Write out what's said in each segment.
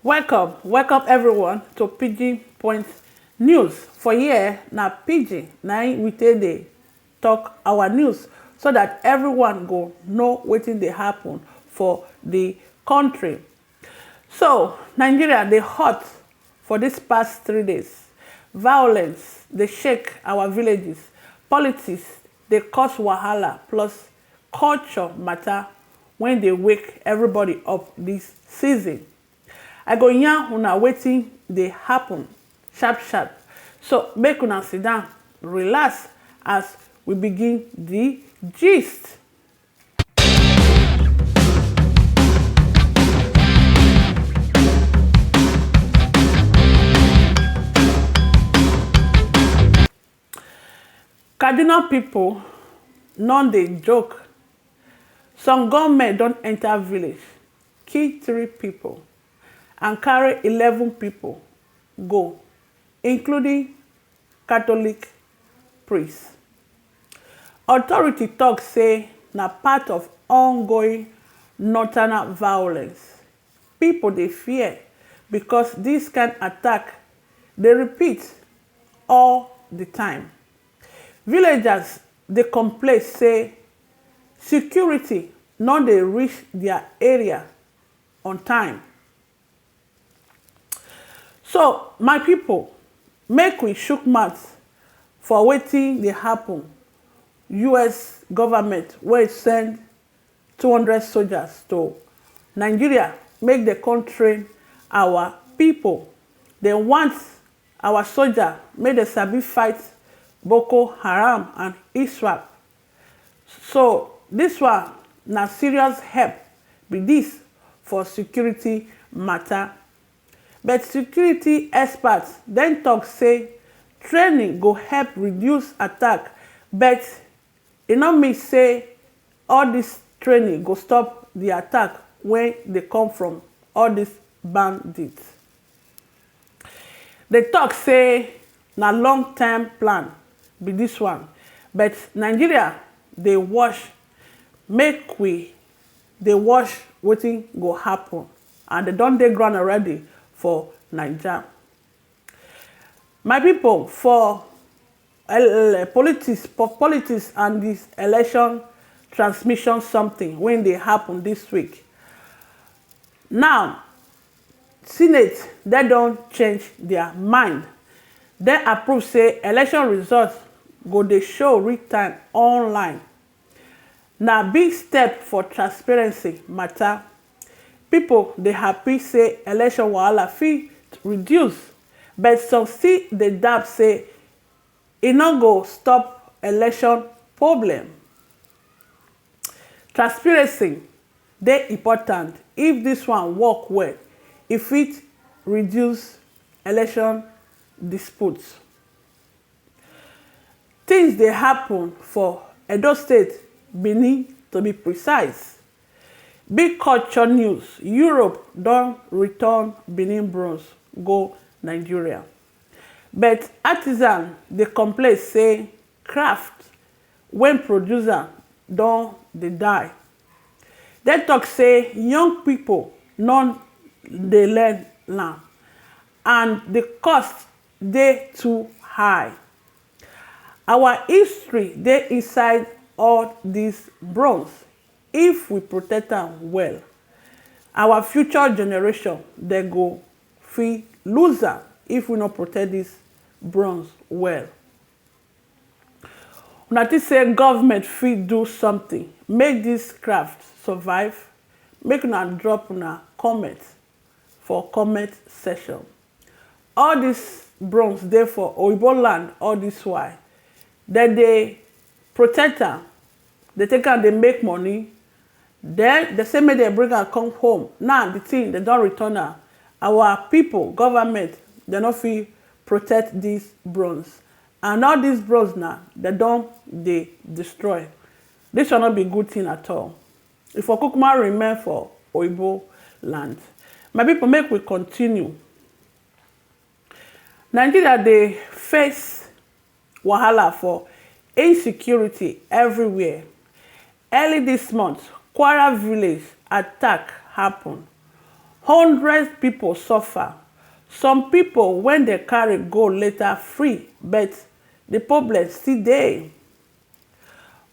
Welcome, welcome everyone to Pidgin Point News. For here, na Pidgin na im we take dey talk our news so that everyone go know wetin dey happen for the country. So, Nigeria dey hot for this past three days. Violence dey shake our villages. Politics dey cause wahala plus culture matter wen dey wake everybody up this season. I go yarn una wetin dey happen sharp sharp so make una sit down relax as we begin the gist. Kaduna pipo nor dey joke, some gunmen don enter village, kill three pipo and carry eleven pipo go, including Catholic priest. Authority talk say na part of ongoing nocturnal violence. Pipo dey fear because dis kind attack dey repeat all di time. Villagers dey complain say security no dey reach dia area on time. So my pipo, make we shook mouth for wetin dey happun, us government wey send two hundred soldiers to Nigeria make dem come train our pipo, dem want Our soja make dem sabi fight boko haram and iswap so this one na serious help be this for security matter but security experts den talk say training go help reduce attack but e no mean say all this training go stop the attack wey dey come from all this bandits. Dem talk say na long term plan be this one but Nigeria dey watch make we dey watch wetin go happen and dem don dey ground already for naija. My people for politics for politics and the election transmission something wey dey happen this week now Senate den don change dia mind, dem approve say election results go dey show real time online. Na big step for transparency mata. Pipo dey happy say election wahala fit reduce, but some still dey doubt say e no go stop election problem. Transpiracy dey important if dis one work well e fit reduce election dispute. Tins dey happun for Edo state, Benin to be precise. Big culture news, Europe don return Benin bronze go Nigeria but artisan dey complain say craft When producer don dey die. Dem talk say young people no dey learn am and the cost dey too high. Our history dey inside all these bronze if we protect am well our future generation dem go fit lose am if we no protect this bronze well. Una think say government fit do something make this craft survive? Make una drop una comment for comment section. All this bronze dey for oyibo land all this while, dem dey protect am Dey take am dey make money then dey say make dem bring am come home now the thing dem don return am our people government dem no fit protect this bronze and all this bronze na dem don dey destroy this one no be good thing at all e for kukuma remain for oyibo land my people make we continue. Nigeria dey face wahala for insecurity everywhere. Early this month, Kwara village attack happen, hundreds people suffer, some people when dem carry go later free but the problem still dey.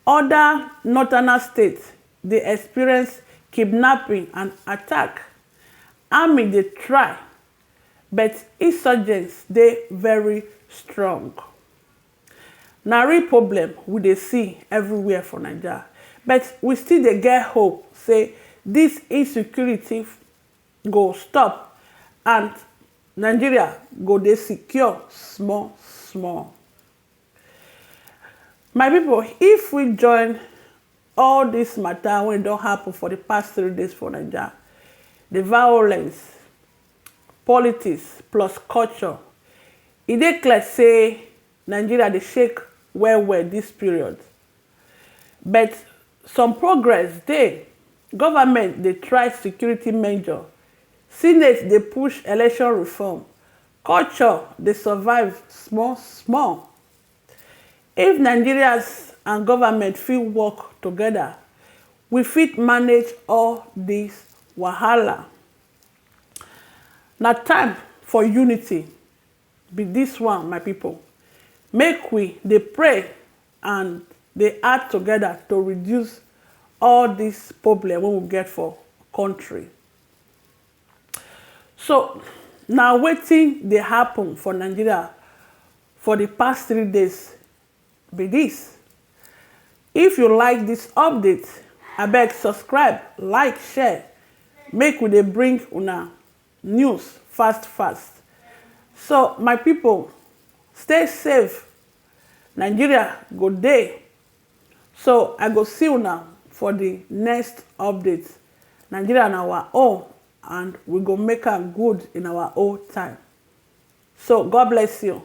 Other northerners state dey experience kidnapping and attack, army dey try. But insurgents dey very strong. Na real problem we dey see everywhere for Naija but we still dey get hope say dis insecurity go stop and Nigeria go dey secure small small. My pipu if we join all dis matter wey don happen for de past three days for naija, de violence, politics plus culture e dey clear sey Nigeria dey shake well well dis period but some progress dey, government dey try security measure, senate dey push election reform, Culture dey survive small small. If Nigerians and government fit work together, we fit manage all this wahala. Na time for unity be this one my people, make we dey pray and dey act together to reduce all this problem wey we get for country. So na wetin dey happen for Nigeria for di past three days be dis. If you like dis update, abeg subscribe, like, share make we dey bring una news fast fast. So my pipo stay safe, Nigeria go dey. So I go see una for the next update. Nigeria na our own and we go make am good in our own time. So God bless you.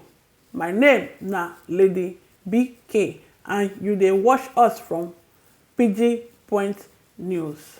My name na Lady BK and you dey watch us from Pidgin Point News.